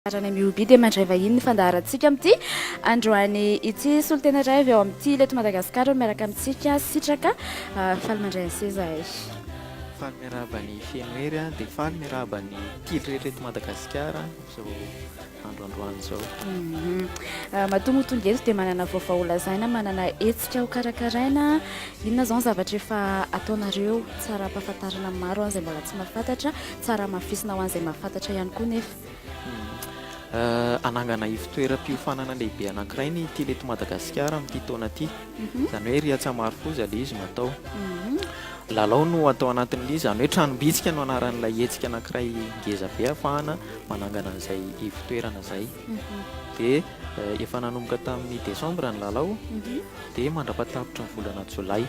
Anarana MUB dia mandray vahiny ny fandaharantsika amin'ity androany ity. Solontena iray avy ao amin'ny Tia Ileto Madagasikara no miaraka amintsika. Sitraka, faly mandray an'i seza ay. Faly miarahaba an'i Fenohery aho dia faly miarahaba ny Tily rehetra eto Madagasikara amin'izao andro androany izao. Matoa moa tonga eto dia manana vaovao ho lazaina, manana hetsika ho karakaraina. Inona izao ny zavatra efa ataonareo? Tsara ampahafantarina ny maro izay mbola tsy mahafantatra, tsara hamafisina ho an'izay mahafantatra ihany koa nefa. hanangana ivon-toeram-piofanana lehibe anankiray ny Tele eto Madagasikara amin'ity taona ity. Mhm. Izany hoe Rihatsa Marofoza ilay izy no atao. Mhm. Lalao no atao anatin'ilay izany hoe tranom-bitsika no anaran'ilay hetsika anankiray ngeza be hafahana manangana an'izay ivon-toerana izay. Mhm. Dia eh, efa nanomboka tamin'ny desambra ny lalao dia mandra-patapitry ny volana jolay.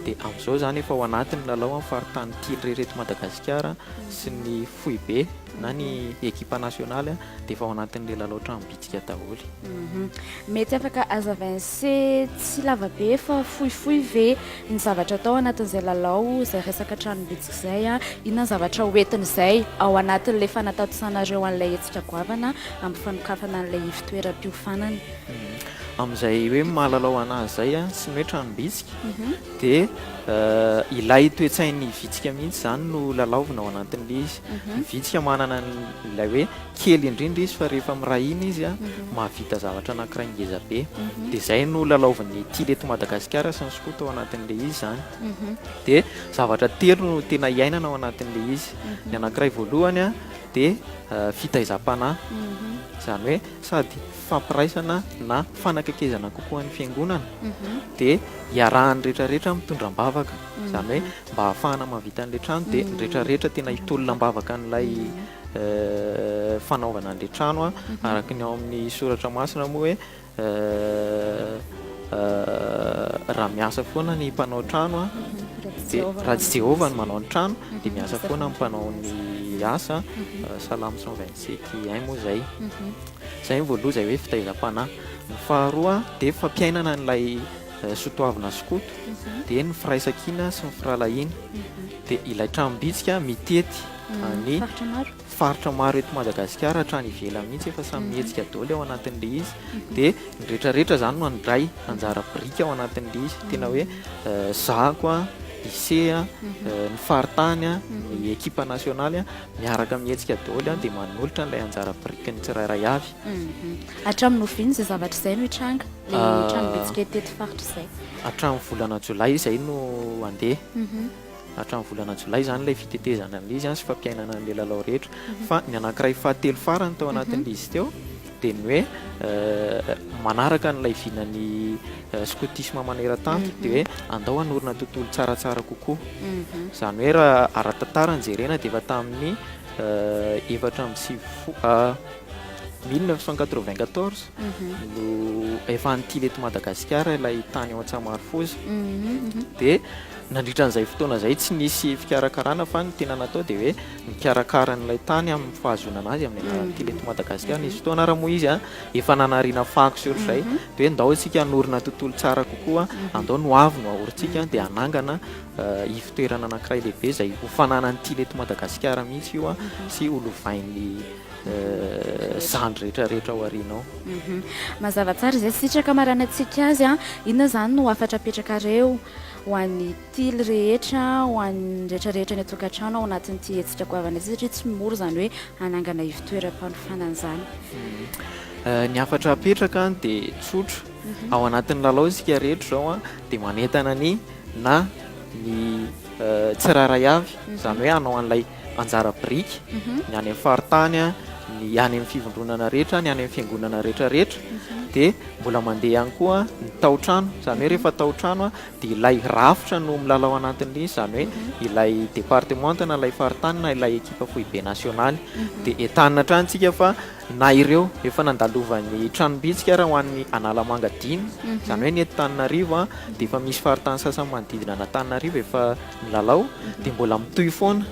Dia amin'izao izany efa ao anatin'ny lalao amin'ny faritany tily rehetra eto Madagasikara sy ny foibe na ny ekipa nasionaly dia efa ao anatin'ilay lalao tranom-bitsika daholo. Mhm. Mety afaka azavain se tsy lavabe fa fohifohy ve ny zavatra atao anatin'izay lalao izay resaka tranom-bitsika izay a? Inona ny zavatra hoentin'izay ao anatin'ilay fanatatisanareo an'ilay hetsika goavana amin'ny fanokafana an'ilay ivotoeram-piofanana? Mhm. Amin'izay hoe mahalalao anazy izay a, sy ny hoe tranom-bitsika. Mhm. Dia ilay toe-tsain'ny vitsika mihitsy izany no lalaovina ao anatin'ilay izy. Ny vitsika manana an'ilay hoe kely indrindra izy fa rehefa miray hina izy an, mahavita zavatra anankiray ngeza be. Dia izay no lalaovin'ny Tily eto Madagasikara sy ny skoto ao anatin'ilay izy izany. Dia zavatra telo no tena iainana ao anatin'ilay izy. Ny anankiray voalohany an, dia fitaizam-panahy. Izany hoe sady. fampiraisana na fanakaikezana kokoa ny fiangonana dia iarahan'ny rehetrarehetra mitondra am-bavaka izany hoe mba hahafahana mahavita an'ilay trano dia ny rehetrarehetra tena hitolona am-bavaka an'ilay eh, fanaovana an'ilay trano a mhm. araka ny ao amin'ny soratra masina moa hoe eh, eh, raha miasa foana ny mpanao trano a mhm. dia raha tsy jehovah no manao ny trano mhm. dia miasa foana ny mpanao ny asa salamo 127 i moa izay Izay ny voaloha izay hoe fitaizam-panahy. Ny faharoa dia fampiainana an'ilay sotoavina sy koto, dia ny firaisankina sy ny firahalahiana. Dia ilay tranom-bitsika mitety an'ny faritra maro eto Madagasikara hatrany ivelany mihitsy, efa samy mihetsika daholo ao anatin'ilay izy. Dia ny rehetrarehetra izany no handray anjara biriky ao anatin'ilay izy. Tena hoe zako, Ise, ny faritany, ny ekipa nasionaly. Miaraka amin'ny hetsika daholo ihany dia manolotra an'ilay anjara biriky ny tsirairay avy. Hatramin'ny oviana izay zavatra izay no hitranga? Ilay ah, trano bitsika teto faritra izay. Hatramin'ny volana jolay izay no handeha. Mhm. Hatramin'ny volana jolay izany ilay fitetezana an'izy sy fampiainana an'ilay lalao rehetra. Mhm. Fa ny anankiray fahatelo farany tao mhm. anatin'izy teo dia ny hoe manaraka an'ilay vinan'ny skotisma maneran-tany dia hoe andao hanorina tontolo tsaratsara kokoa. Mhm. Izany hoe raha ara-tantara ny jerena dia efa tamin'ny efatra amby sivy fo- 1994 mhm. no efa nitily eto Madagasikara ilay tany ao Antsamarofoza mhm, dia nandritra an'izay fotoana izay tsy nisy fikarakarana fa ny tena natao dia hoe mikarakara an'ilay tany amin'ny fahazonana azy amin'ny alalan'ny tily eto Madagasikara. Nisy fotoana ary moa izy efa nanariana fako sy ohatr'izay mhm. dia hoe ndao isika hanorina tontolo tsara kokoa, mhm. andao no avy no ahorintsika dia hanangana eh, ivotoerana anankiray lehibe izay ho fananan'ny tily eto Madagasikara mihitsy io mhm. sy ho lovain'ny eh, zany rehetrarehetra ao arinao. Mazava tsara izay sitraka maranantsika azy, inona izany no hafatra apetrakareo ho an'ny Tily rehetra ho an'ny rehetra rehetra any an-tokantrano ao anatin'ity hetsika goavana ity satria tsy mora izany hoe hanangana ivon-toeram-panofanana izany. Hmm. Ny hafatra apetraka dia tsotra. Mhm. Ao anatin'ny lalao isika rehetra izao dia manentana ny na ny tsirairay avy mhm. izany hoe hanao an'ilay anjara biriky mhm. ny any faritany a ny any amin'ny fivondronana rehetra ny any amin'ny fiangonana rehetrarehetra mhm. dia mbola mandeha ihany koa ny taotrano izany hoe rehefa taotrano a dia ilay rafitra no milalao anatin'ilay izy, izany hoe ilay departemanta na ilay faritany na ilay ekipa foibe nasionaly, dia entanina hatrany isika fa na ireo efa nandalovan'ny tranom-bitsika ary ho an'ny Analamanga dimy, izany hoe ny eto Antananarivo dia efa misy faritany sasany manodidina an'Antananarivo efa Milalao dia mbola mitohy foana,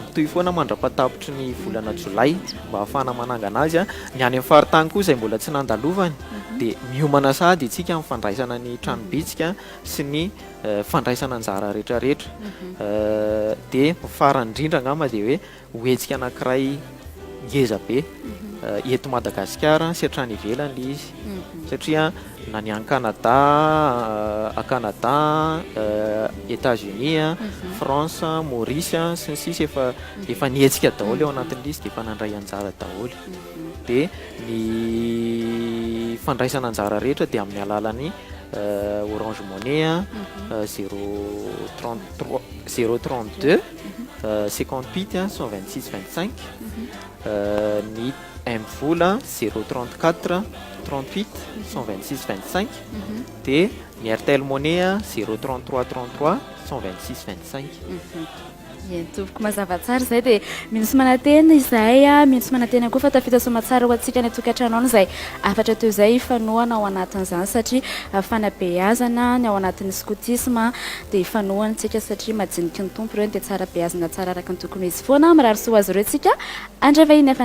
mitohy foana mandra-patapitry ny volana jolay mba hahafahana manangana azy. Ny any amin'ny faritany koa izay mbola tsy nandalovany dia miomana sahady isika amin'ny fandraisana ny tranom-bitsika sy ny fandraisana anjara rehetrarehetra. Dia ny farany indrindra angamba dia hoe Ho hetsika anankiray ngeza be eto Madagasikara sy hatrany ivelany ilay izy satria na ny any Canada, à Canada, Etats Unis a, France, Maurice a, sy ny sisa efa efa nihetsika daholo ao anatin'ilay izy dia efa nandray anjara daholo. Dia ny fandraisana anjara rehetra dia amin'ny alalan'ny Orange Money a, 033 032 Seconde pity a, cent vingt six vingt cinq, ny M-vola zero trente quatre trente huit cent vingt six vingt cinq, dia ny Airtel Money a, zero trente trois trente trois cent vingt six vingt cinq. Ie, tompoko, mazava tsara izay. Dia mino sy manantena izahay, mino sy manantena koa fa tafita soamantsara ho antsika any an-tokantrano any izay hafatra toy izay hifanohana ao anatin'izany satria fanabeazana ny ao anatin'ny skotisma. Dia ifanohany tsika satria majiniky ny Tompo ireo dia tsara beazina tsara araka ny tokony ho izy foana, mirary soa ho azy ireo tsika, handray vahiny hafa.